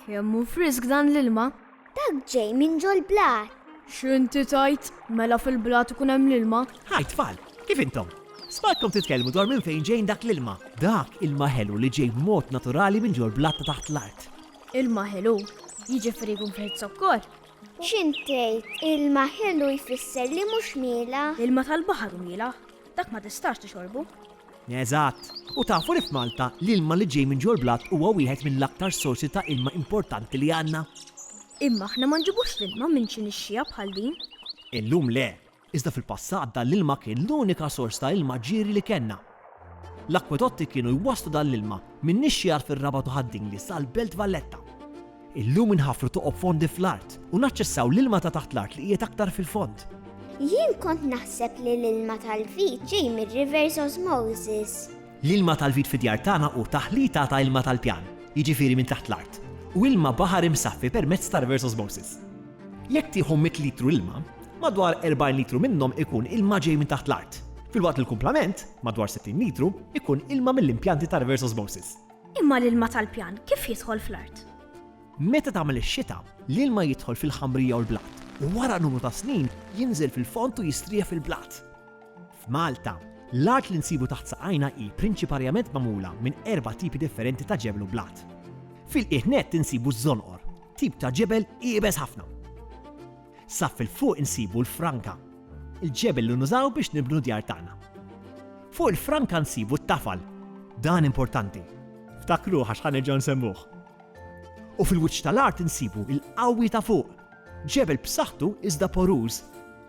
Kemm hu frisk dan l-ilma? Dak ġej minn ġol blat. X'inti tajt? Mela fil-blat ikun hemm l-ilma? Hi tfal, kif intom? Smartkom titkellmu dwar minn fejn ġejn dak l-ilma. Dak ilma ħelu li ġej b'mod naturali minn ġol blat ta' taħt l-art. Ilma ħelu, jiġifieri jkun fih iż-zokkor? X'int tgħid, ilma ħelu jfisser li mhux mielaħ? L-ilma tal-baħar hu mielaħ, dak ma tistax tixorbu. Eżatt! U tafu li f'Malta, l-ilma li ġej minn ġol-blat huwa wieħed mill-aktar sorsi ta' ilma importanti li għandna? Imma aħna ma nġibux l-ilma minn xi nixxiegħa bħal din. Illum le, Iżda fil-passat dan l-ilma kien l-unika sors ta' ilma ġieri li kellna. L-akkwedotti kienu jwasslu dan l-ilma min-nixxiegħat fir-Rabat u Ħad-Dingli sal-Belt Valletta. Illum inħaffru toqob fondi fl-art u naċċessaw l-ilma ta' taħt l-art li qiegħed aktar fil-fond. Jien kont naħseb li l-ilma tal-vit ġej mir-reverse osmosis. L-ilma tal-vit fid-djar tagħna hu taħlita ta' ilma tal-pjan, jiġifieri minn taħt l-art, u ilma baħar imsaffi permezz ta' reverse osmosis. Jekk tieħu mitt litru ilma, madwar erbgħin litru minnhom ikun ilma ġej minn taħt l-art, filwaqt li l-kumplament, madwar sittin litru, ikun ilma mill-impjanti ta' reverse osmosis. Imma l-ilma tal-pjan kif jidħol fl-art? Meta tagħmel ix-xita, l-ilma jidħol fil-ħamrija u l-blat, u wara numru ta' snin jinżel fil-fond u jistrieħ fil-blat. F'Malta, l-art li nsibu taħt saqajna hi prinċiparjament magħmula minn erba' tipi differenti ta' ġebel u blat. Fil-qiegħ nett insibu ż-żonqor, Tip ta' ġebel iebes ħafna. Sa fil-fuq insibu l-franka, il-ġebel li nużaw biex nibnu djar tagħna. Fuq il-franka nsibu t-tafal, dan importanti, ftakruh għax ħa nerġgħu nsemmuh. U fil-wiċċ tal-art insibu l-qawwi ta' fuq, ġebel b'saħħtu iżda poruż,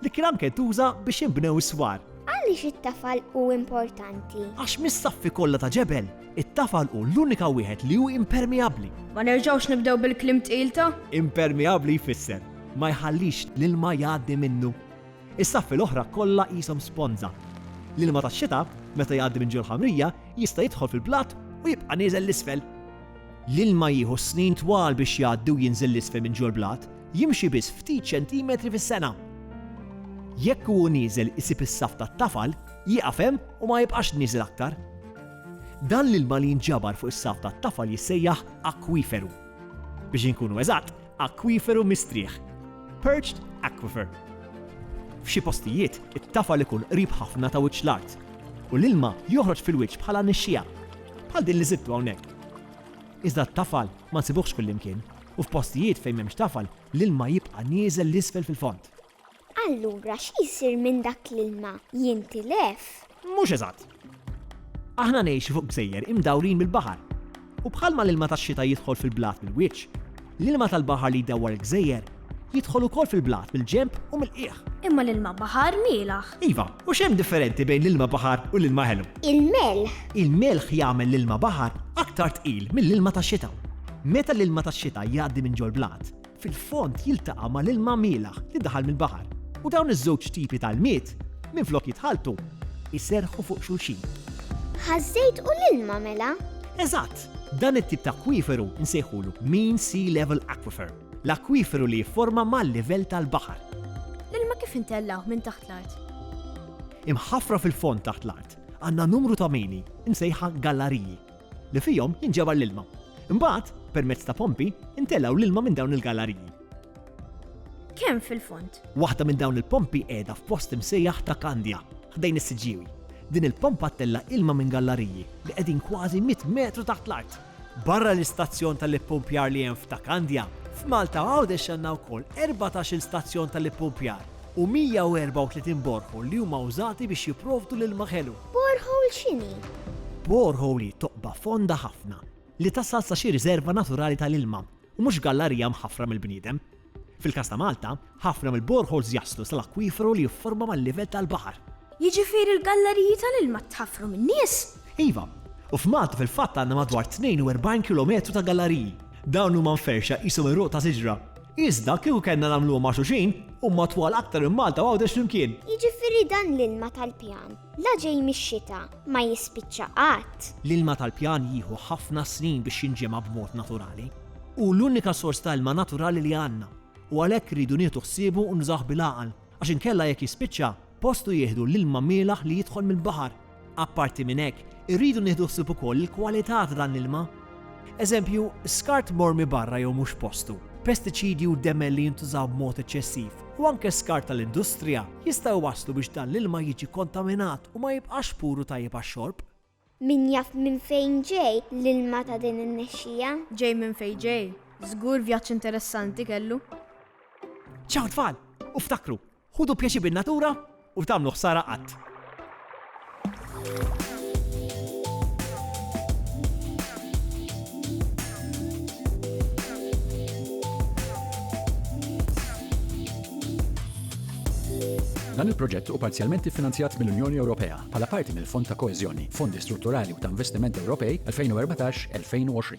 Dik il-għam kien tuża biex inbnew is-swar. Għaliex it-tafal hu importanti? Għax mis-saffi kollha ta' ġebel, it-tafal hu l-unika wieħed li hu impermeabbli. Ma nerġgħux nibdew bil-kliem tqil ta'. Impermeabbli jfisser, ma jħallix l-ilma jgħaddi minnu. Is-saffi l-oħra kollha qishom sponża. L-ilma tax-xita, meta jgħaddi minn ġol-ħamrija, jista' jidħol fil-blat u jibqa' nieżel 'l isfel. L-ilma jieħu snin twal biex jgħaddi u jinżel 'l isfel minn ġol-blat. Jimxi biss ftit ċentimetri fis-sena. Jekk hu nieżel isib is-saff tat-tafal, jieqaf hemm u ma jibqax nieżel aktar. Dan l-ilma li jinġabar fuq is-saff tat-tafal jissejjaħ akwiferu. Biex inkunu eżatt, akwiferu mistrieħ, perched aquifer. F'xi postijiet, it-tafal ikun qrib ħafna ta' wiċċ l-art u l-ilma joħroġ fil-wiċċ bħala nixxiegħa, bħal din li sibtu hawnhekk. Iżda t-tafal ma nsibuhx kullimkien. u f'postijiet fejn m'hemmx tafal l-ilma jibqa' nieżel 'l isfel fil-fond. Allura xi jsir minn dak l-ilma? Jintilef? Mhux eżatt. Aħna ngħixu fuq gżejjer imdawrin mill-baħar u bħalma l-ilma tax-xita jidħol fil-blat mill-wiċċ, l-ilma tal-baħar li jdawwar il-gżejjer jidħol ukoll fil-blat mill-ġenb u mill-qiegħ. Imma l-ilma baħar mielgħ. Iva, u x'hemm differenti bejn l-ilma baħar u l-ilma ħelu? Il-melħ. Il-melħ jagħmel l-ilma baħar aktar tqil mill-ilma tax-xita. Meta l-ilma tax-xita jgħaddi minn ġol-blat, fil-fond jiltaqa' ma' l-ilma mielaħ li daħal mill-baħar u dawn iż-żewġ tipi ta' ilmiet, minflok jitħalltu, iserrħu fuq xulxin. Ħaż-żejt u l-ilma mela? Eżatt! Dan it-tip ta' akwiferu nsejħulu mean sea level aquifer, l-akwiferu li jifforma mal-livell tal-baħar. L-ilma kif intellgħuh minn taħt l-art? Imħaffra fil-fond taħt l-art, għandna numru ta' mini, imsejħa gallariji. li fihom jinġabar l-ilma. Imbagħad, permezz ta' pompi, intelgħu l-ilma minn dawn il-galariji. Kemm fil-fond? Waħda minn dawn il-pompi qiegħda f'post imsejjaħ ta' Kandja, ħdejn is-Siġġiewi. Din il-pompa ttella' ilma minn gallariji li qegħdin kważi mitt metru taħt l-art. Barra l-istazzjon tal-ippumpjar li hemm f'Ta' Kandja, f'Malta u Għawdex għandna wkoll erbatax-il stazzjon tal-ippumpjar u 134 borehole li huma wżati biex jipprovdu l-ilma ħelu. Borehole x'inhi? Borehole hi toqba fonda ħafna li tasal sa xi riżerva naturali tal-ilma u mhux gallarija mħaffra mill-bniedem. Fil-każ ta' Malta, ħafna mill-boreholes jaslu sal-akwiferu li jifforma mal-livell tal-baħar. Jiġifieri l-gallariji tal-ilma tħaffru min-nies? Iva, u f'Malta fil-fatt għandna madwar 42 kilometru ta' gallariji. Dawn huma mferrxa qishom għeruq ta' siġra. Iżda kieku kellna nagħmluhom ma' xulxin, huma twal aktar minn Malta u Għawdex flimkien. Jiġifieri dan l-ilma tal-pjan, la ġej mix-xita, ma jispiċċa qatt. L-ilma tal-pjan jieħu ħafna snin biex jinġema' b'mod naturali. Hu l-unika sors ta' ilma naturali li għandna u għalhekk irridu nieħdu ħsiebu u nużawh bil-għaqal għax inkella jekk jispiċċa, Postu jieħdu l-ilma mielaħ li jidħol mill-baħar. Apparti minn hekk, irridu nieħdu ħsieb ukoll il-kwalità ta' dan l-ilma. Eżempju, skart mormi barra jew mhux f'postu, pestiċidji u demel li jintużaw b'mod eċċessiv, u anke skart tal-industrija, jistgħu jwasslu biex dan l-ilma jiġi kontaminat u ma jibqax pur u tajjeb għax-xorb. Min jaf minn fejn ġej l-ilma ta' din in-nexxija? Ġej minn fejn ġej, żgur vjaġġ interessanti kellu. Ciao tfal! U ftakru, ħudu pjaċir bin-natura u tagħmlu ħsara qatt! Dan il-proġett hu parzjalment iffinanzjat mill-Unjoni Ewropea. bħala parti mill-Fond ta' Koeżjoni, Fondi Strutturali u ta' Investiment Ewropej 2014-2020.